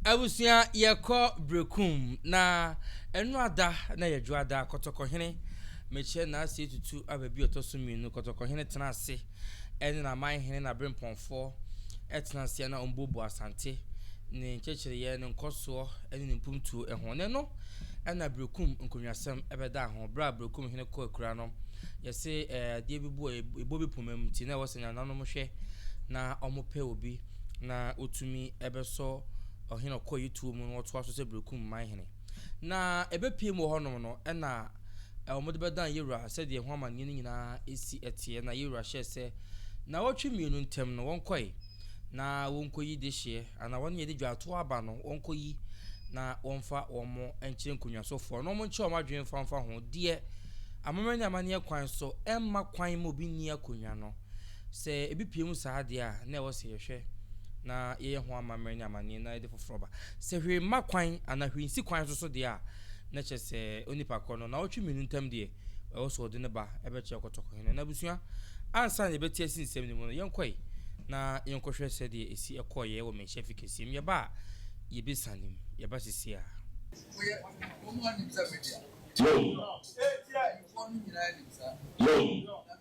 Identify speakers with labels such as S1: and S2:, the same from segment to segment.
S1: Abusua yɛkɔ brekum na ɛno ada na yɛdwo ada kɔtɔkɔhene mekyɛ naase tutu aba bi ɔtɔ so mmienu kɔtɔkɔhene tena ase ɛne n'aman hene na berempɔnfoɔ ɛtena ase ana ɔmbuobuo asante ne nkyɛkyereyɛ ne nkɔsoɔ ɛne ne mpumtuo ɛho ne no ɛna brekum nkonnwasɛm ɛbɛda ho berɛ a brekum hene kɔ akura no yɛse ɛɛ adeɛ bi boɔ ɛbɔ bi pomam ti na ɛwɔ sɛ nyananom hwɛ na ɔmo pɛ obi na otumi bɛsɔ ɔhene a ɔkɔeɛ tuo mu na ɔtoa so sɛ Berekum man hene. Na ɛbɛpue mu wɔ hɔnom no, ɛna wɔde bɛdan Yeroa sɛdeɛ ho amanneɛ no nyinaa si teɛ. Na Yeroa hyɛɛ sɛ nnawɔtwe mmienu ntam no wɔnkɔe na wɔnkɔyi dehyeɛ, anaa wɔn a yɛde dwaatoɔ aba no wɔnkɔyi na wɔmfa wɔn nkyerɛ nkonnwasofoɔ na wɔnkyerɛ wɔn adwene mfa mfa ho deɛ amammerɛ ne amanneɛ kwan so ɛmma kwan ma obi nni akonnwa no. Sɛ ebi pue mu saa deɛ a, na ɛwɔ sɛ yɛhwɛ na yɛyɛ ho amammerɛ ne amanneɛ na yɛde foforɔ ba. Sɛ hwee mma kwan anaa hwee nsi kwan so so deɛ a, na kyerɛ sɛ onipa korɔ no, naawɔtwe mmienu ntam deɛ, ɛwɔ sɛ ɔde no ba bɛkyerɛ kɔtɔkɔhene. Na abusua, ansa na yɛbɛte asi nsɛm no mu no, yɛnkɔe na yɛnkɔhwɛ sɛdeɛ ɛsi kɔeɛ wɔ Manhyia Fi Kɛseɛ mu. Yɛba a, yɛbɛsiane mu. Yɛba seesei ara. Yom. Yom.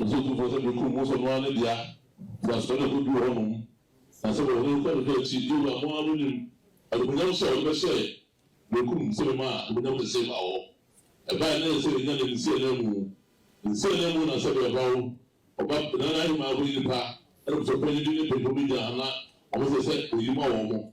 S1: Ɔsɛ otumfoɔ sɛ mekum mo sɛ mo ara ne dea, firi asopa no a ɛkɔduru hɔ nom, na sɛ wɔhunu kɔ ne dɔ akyi, Yehowa a mo ara monim animuonyam hyɛ a ɔde bɛhyɛ mekum sɛ mema animuonyam kɛseɛ baa hɔ. Ɛbaeɛ na ɛyɛ sɛ yɛnya ne nsi ananmu, nsi ananmu na sɛdeɛ ɔbawo, ɔba bena no ahemmaa hɔ nnipa, ɛnam sɛ ɔpɛ anigye ne pɛmpɛ mu gya na wɔsɛ sɛ wɔyi ma wɔn.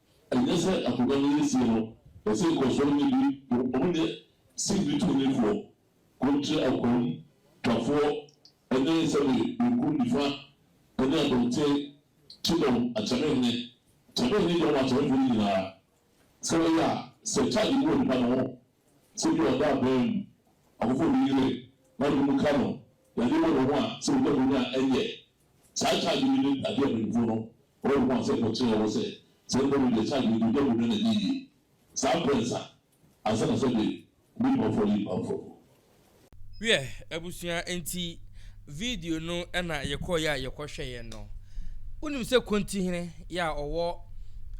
S1: Ɛnyɛ sɛ akonnwa no yɛ sie no, ɛsɛ nkɔsoɔ no bi, wɔnyɛ singbi tɔnnifoɔ, kontre akoam twafoɔ ne sɛbe benkum nifa ne abɔnten kyedɔm akyɛmehene kyɛmehene dɔm akyɛmefoɔ no nyinaa, sɛ wɔyɛ a, sɛ charge bi wɔ nipa no ho, sɛ bi a ɔda abaa mu, ɔkɔfa obi yere na ɔde ne mu ka no, yadeɛ wɔ ne ho a, sɛ wɔnya mu no a, ɛnyɛ. Saa charge yi ne adeɛ a mpanyinfoɔ no Ɔwɔ ho kwan sɛ wɔkyerɛ wo sɛ sɛ ɛbɔ no de kyɛ a deɛ ɔde dwa mu no na ɛnyɛ yie. Saa berɛ nsa ansa na sɛ de nnipa afɔdeɛ nyinaa bɛfra mu. Wiɛ abusua enti video no na yɛkɔɔeɛ a yɛkɔhwɛeɛ no. Wonim sɛ Kontihene yɛ a ɔwɔ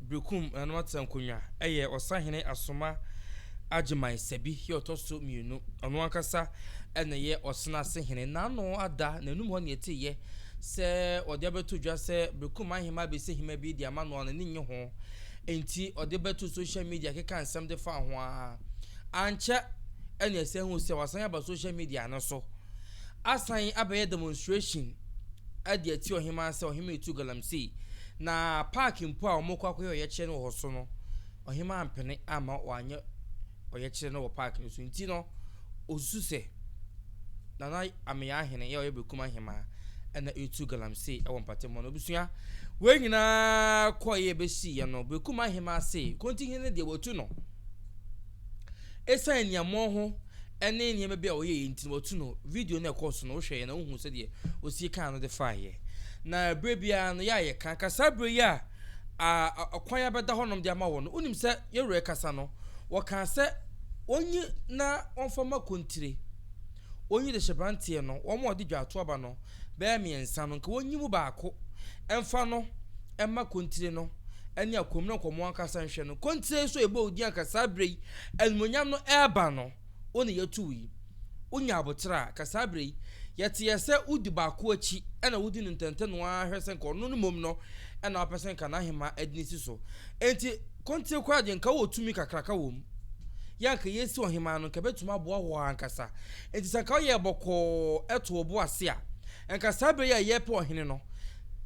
S1: Berekum Nananom Atsena Nkonnwa yɛ Ɔsahene Asoma Agyeman Sabi yɛ ɔtɔ so mmienu. Ɔno ankasa na ɛyɛ Ɔsena Asehene. N'ano ada, n'anum hɔ na yɛteeɛ. Sɛ ɔde abɛto dwa sɛ Bekum Ahemaa Besi Hemaa Bi de ama no a, n'ani nnye ho. Enti ɔde bɛtoo social media kekaa nsɛm de faa ho ara. Ankyɛ na yɛsan hui sɛ wasan aba social media no so asan abɛyɛ demonstration de atia Ɔhemaa sɛ Ɔhemmaa tu Galamsey, na park mpo a wɔkɔ akɔyɛ ɔyɛkyerɛ no wɔ hɔ so no, ɔhemaa ampene amma wɔanyɛ ɔyɛkyerɛ no wɔ park no so nti no, osusu sɛ Nana Ameyaahene a ɔyɛ Bekum Ahemaa na retu galamsey wɔ mpatamu no. Abusua wei nyinaa kɔeɛ bɛsiiɛ no, Bekum Ahemaa se Kontihene no deɛ wɔatu no. Ɛsiane aniammɔn ho ne nneɛma bi a ɔyɛeɛ nti no wɔatu no. Video no ɛkɔɔ so no wohwɛeɛ na wohu sɛdeɛ osie kaa no de faeɛ. Na berɛ biara no yɛ a yɛka ka saa berɛ yi a a ɔkwan a ɛbɛda hɔnom de ama wɔn no, wonim sɛ yɛn wura rekasa no, wɔkaa sɛ wɔnyi na wɔmfa ma kontire. Wɔnyi de hyɛ branteɛ no, wɔn a wɔde dwaato aba no bɛyɛ mmiɛnsa no, nka wɔnyi mu baako mfa no mma kontire no ne akwam no, nka wɔn ankasa nhwɛ no. Kontire nso a ɛbɔɔ din anka saa berɛ yi animuonyam no reba no. wo na yɛtuu yi, wonya aboterɛ a, ka saa berɛ yi, yɛte yɛ sɛ wodi baako akyi na wodi no ntɛntɛ no ara hwɛ sɛ nka ɔno no mmom no na wopɛ sɛ nka n'ahemaa adini si so. Enti kontire koraa deɛ nka wowɔ tumi kakraka wɔ mu. Yɛ a nka yɛresi ɔhemaa no nka ɛbɛtumi aboa wo ankasa. Enti sɛ nka woyɛɛ bɔkɔɔ to wo bo ase a, nka saa berɛ yi a yɛrepɛ ɔhene no,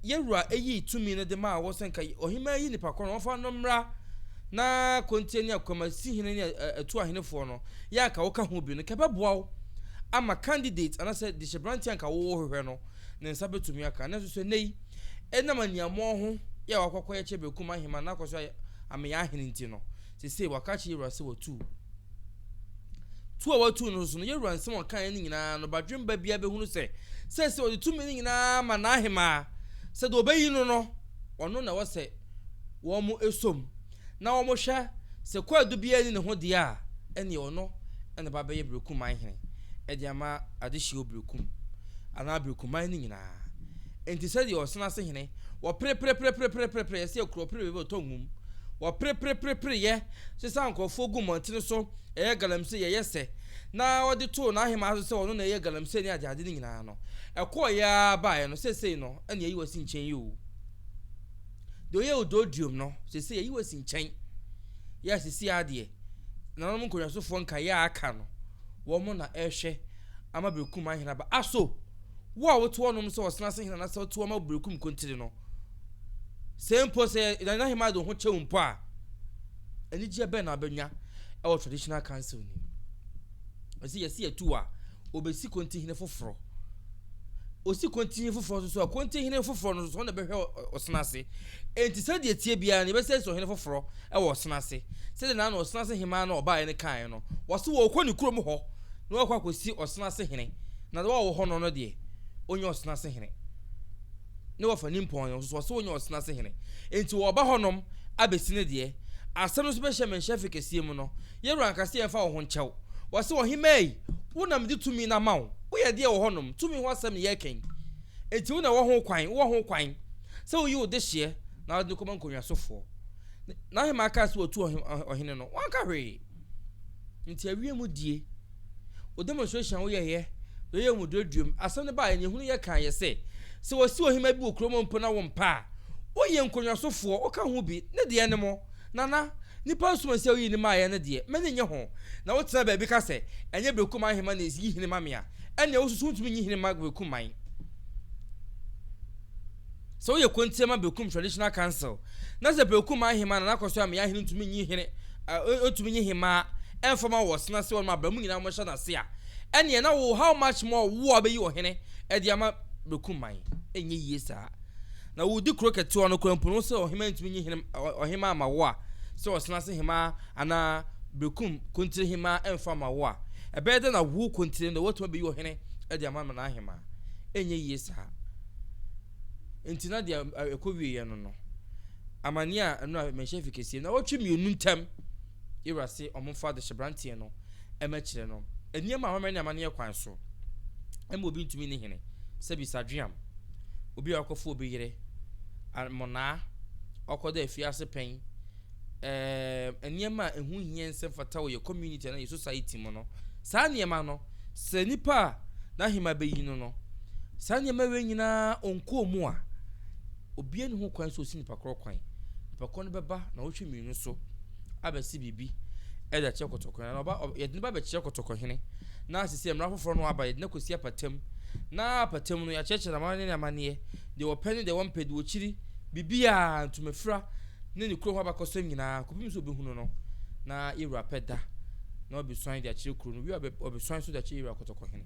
S1: Yɛn Wura yii tumi no de maa wo sɛ nka ɔhemmaa yi nipa korɔ no wɔmfa no mmra na kontie ne akwamasi-hene ne atuahenefoɔ no yɛ a nka woka ho bi no nka ɛbɛboa wo ama candidate anaasɛ dehyɛberanteɛ a nka wohwehwɛ no ne nsa bɛtumi aka. Nanso so ɛnnɛ yi, ɛnam aniammɔɔ ho yɛ a wakɔ akɔyɛ kyɛ bɛkum ahemmaa na akɔ so ayɛ ameyaahene nti no, seesei waka akyerɛ yɛn Wura sɛ watu wo. Tu a wɔatuu no nso no, Yeroboam nsɛm a ɔkae no nyinaa no, badwemma biara bɛhunu sɛ, seesei ɔde tumi no nyinaa ma n'ahemaa, sɛ deɛ ɔbɛyi no no, ɔno na ɛwɔ sɛ wɔsom, na wɔhwɛ sɛ kwaadu biara nni ne ho deɛ a, ɛnneɛ ɔno na ɛba bɛyɛ berekum man hene de ama adehyeɛ berekum anaa berekum man no nyinaa. Enti sɛdeɛ ɔsena ase hene, wɔperepereperepereperepereɛ sɛ kuro ɔpere baabi ɔtɔ nwom, wɔperepereperepereɛ sesaa nkurɔfoɔ guu mmɔntene so yɛyɛ galamsey yɛyɛ sɛ, na ɔde too n'ahemaa so sɛ ɔno na ɛyɛ galamsey ne adeade no nyinaa no, ɛkɔɔeɛ ara baeɛ no, seesei no, na yɛayi wo asi nkyɛn yi o. Deɛ ɔyɛɛ wo dɔɔduam no, seesei yɛayi wo asi nkyɛn. Yɛ a seesei ara deɛ, nananom nkɔnhwasofoɔ nkaeɛ a aka no, wɔn na ɛrehwɛ ama Berekum ahene aba. Aso, wo a wote hɔnom sɛ ɔsena ase hene anaasɛ wote hɔ ma Berekum nkontire no, Sɛ mpo sɛ Nana Nahima de wo ho kyɛ wo mpo a, anigyeɛ bɛn na wobɛnya wɔ Traditional Council no mu? Ɛsɛ yɛsi atu a, wɔbɛsi Kontihene foforɔ. Wɔsi Kontihene foforɔ nso so a, Kontihene foforɔ no nso so, ɔno na ɛbɛhwɛ ɔsena ase. Enti sɛdeɛ ɛtie biara no, yɛbɛsɛ yɛsi ɔhene foforɔ wɔ ɔsena ase. Sɛdeɛ na na ɔsena ase hemaa no a ɔbaeɛ no kaeɛ no, wɔse wɔrekɔ ne kurom hɔ na wɔakɔ akɔsi ɔsena ase hene, na wɔn a wɔwɔ hɔ no no deɛ, ɔnyɛ ɔsena ase hene. ne wɔfa nimpɔn yɛ nso so ɔse wonyɛ ɔsena ase hene enti wɔba hɔ nom abesi ne deɛ asɛm no so bɛhyɛ menhyɛ afe kɛseɛ mu no yɛwura anka se yɛmfa wo ho nkyɛw wɔse ɔhemaa yi wo na mede tumi no ama wo woyɛ deɛ wɔ hɔ nom tumi ho asɛm ne yɛreka yi enti wo na ɛwɔ ho kwan wowɔ ho kwan sɛ woyi wo dehyeɛ na wode no kɔma nkonnwasofoɔ na ahemaa kaa se watu ɔhene no wanka hwee nti awie mu die Wo demonstration a wo yɛ yɛ, yɛ yɛ mu duaduam. Asɛm no baa nyehunu yɛ kan yɛ sɛ, sɛ wɔ si ohima bi wɔ kuro mu mpo na wo mpa a, wo yɛ nkonwaso foɔ, wo ka ho bi, ne deɛ ne mo, Nana, nipa nsuma si a wo yi ne maa yɛ no deɛ, m'ani nnye ho, na wo tena baabi ka sɛ, ɛnyɛ Bekum Aheman na ɛsi yi hene ma me a, ɛneɛ wo nso so wo ntumi nyi hene mma Bekum man. Sɛ woyɛ kontie ma Bekum Traditional Council na sɛ Bekum Aheman na n'akɔso ammea hene ntumi nyi hene a ntumi nyi hemaa ɛmfa ma wɔ Ɔsena ase hɔ nom a bra mu nyinaa mmɛhyɛ n'ase a ɛneɛ na wo how much more wo a wobɛyi ɔhene ɛde ama Bekum man ɛnyɛ yie saa na wodi kuro kɛtewa no koraa mpo no sɛ ɔhemaa ntumi nyi hene ɔhemaa ma wo a sɛ Ɔsena ase hemaa anaa Bekum kontire hemaa ɛmfa ma wo a ɛbɛyɛ dɛ na wo kontire no watumi abɛyi ɔhene ɛde ama ma n'ahemaa ɛnyɛ yie saa. Enti na deɛ ɛkɔwieɛ no no, amaneɛ a ɛno a mɛnhyɛ fi kɛseɛ na wɔtwe mmienu ntam yɛwura se ɔmomfa adehyɛbranteɛ no ɛmɛ kyerɛ no nneɛma a wɔmɛ ne amaneɛ kwan so ɛma obi ntumi ne hene sɛ bisadweam obi a ɔkɔfo obi yere mmonaa ɔkɔda afiase pɛn Ɛɛm, nneɛma a ɛho hia nsɛ mfata wɔ yɛ community anaa yɛ society mu no, saa nneɛma no, sɛ nipa a n'ahema bɛyi no no, saa nneɛma wei nyinaa ɔnkɔɔ mu a, obiara nni ho kwan sɛ ɔsi nipa korɔ kwan. Nipa korɔ no bɛba na ɔhwɛ mmienu so abɛsi biribi ɛde akyerɛ kɔtɔkɔhene, anaa ɔba, ɔ, yɛde no ba bɛkyerɛ kɔtɔkɔhene, na sisi mmara foforɔ no aba, yɛde no akɔsi apatam, na apatam no yɛakyerɛkyerɛ no amanneɛ ne amanneɛ, deɛ wɔpɛ ne deɛ wɔmpɛ, deɛ wɔkyiri, biribiara, ntomafira, Ne ne kuro ho abakɔsɛm nyinaa kɔpem sɛ ɔbɛhunu no na Yewura pɛ da na ɔbɛsuan de akyerɛ kuro no wie a ɔbɛsuan nso de akyerɛ Yewura Kɔtɔkɔhene.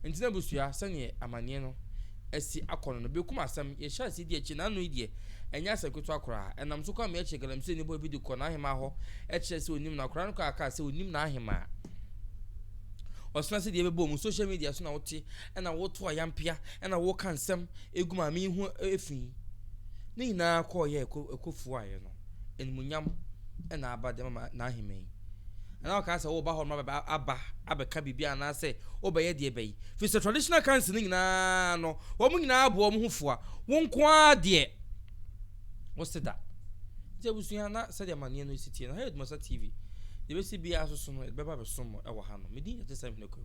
S1: Nti na abusua sɛdeɛ amanneɛ no asi akɔ no no bɛkum asɛm yɛhyɛ aseɛ di akyire na ano yi deɛ ɛnyɛ asɛm ketewa koraa. Ɛnam so Kwame kyerɛ galamsey ne boy bi de kɔ n'ahemaa hɔ kyerɛ sɛ ɔnim no akwadaa no kaa kaa sɛ ɔnim n'ahemaa. Ɔsena sɛ deɛ ɛbɛbɔ mu social media so na wote Ɛna woto ayampea, ɛna woka nsɛm gu maame yi ho fi. Ne nyinaa kɔɔ yɛ ɛkɔ fuaeɛ no, animuonyam ɛna aba de ma n'ahemman yi. Ɛna ɔkaa sɛ woba hɔ no ma aba abɛka biribi anaasɛ wobɛyɛ deɛ bɛyi. Firi sɛ traditional council no nyinaa no, wɔn nyinaa bɔ wɔn ho fua. Wo nko ara deɛ wo se da. Nti abusua na sɛdeɛ amaneɛ no si tie no, ha yɛ Dumasa TV. Deɛ bɛsi biara so so no, yɛde bɛba bɛsom mo ɛwɔ ha no. Medin yɛ Gyesɛm Hene Kwaku.